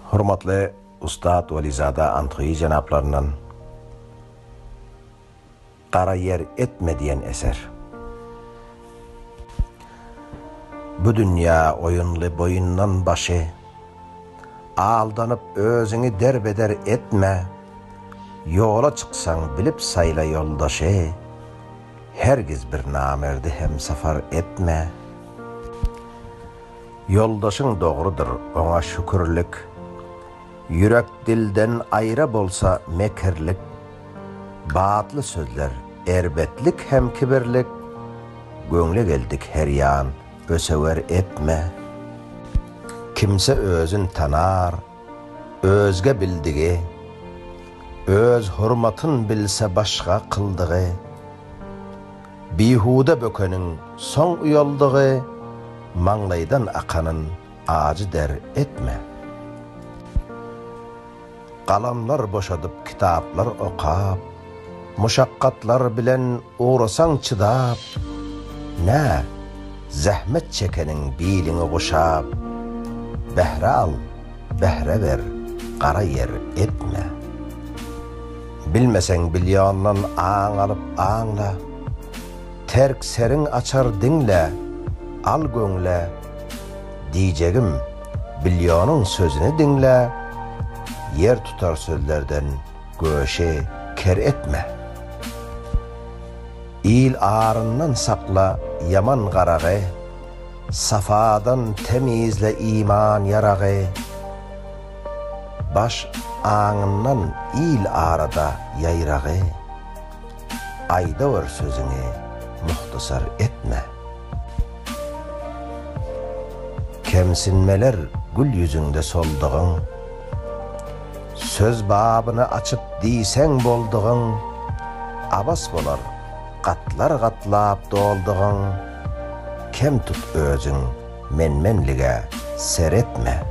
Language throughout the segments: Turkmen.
Hormatly ussat Welizada Anthyýy jenaplaryndan Gara ýer etme diýen eser. Bu dünýä oýunly boýundan başy, Aldanyp özüňi derbeder etme, Ýola çyksaň bilip saýla ýoldaşy, Hergiz bir namerdi hemsafar etme. Ýoldaşyň dogrudyr, oňa şükürlik, Ýürek dilden aýra bolsa mekirlik, Batly sözler, erbetlik hem kibirlik, Göwne geldik her ýan ösewer etme. Kimse özün tanar, özge bildigi, Öz hurmatyn bilse başga kyldygy. Bihuda bökeniň soň uýaldygy maňlaýdan akanyn ajy der etme. Galamlar boşadyp kitaplar okap, muşakgatlar bilen ugrasaň çydap, nä, zähmet çekeniň biliňi guşap, bähre al, bähre ber, gara ýer etme. Bilmeseň bilýondan aň alyp aňla, Terk seriň açar diňle, al göňle, Diýjegim, bilýonyň sözüni diňle, Ýer tutar sözlerden göşi ker etme. Il aryndan sakla ýaman garagy, Safadan temizle iman ýaragy. Baş aňyndan il arada ýaýragy, Aýdawer sözüňi muhtasar etme. Kemsinmeler gül ýüzüňde soldugyň, Söz babyny açyp diýseň boldugyň, Abas bolar gatlar gatlap doldugyň, Kem tut özüň men-menlige seretme.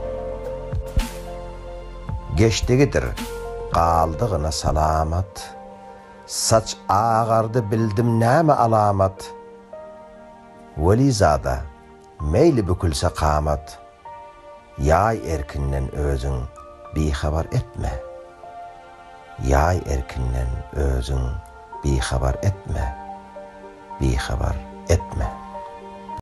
Geçdigidir, galdygyna salamat. Saç agardy bildim näme alamat. Welizada, meýli bükülse kamat. Ýaý erkinden özüň bihabar etme. Ýaý erkinden özüň bihabar etme, bihabar etme.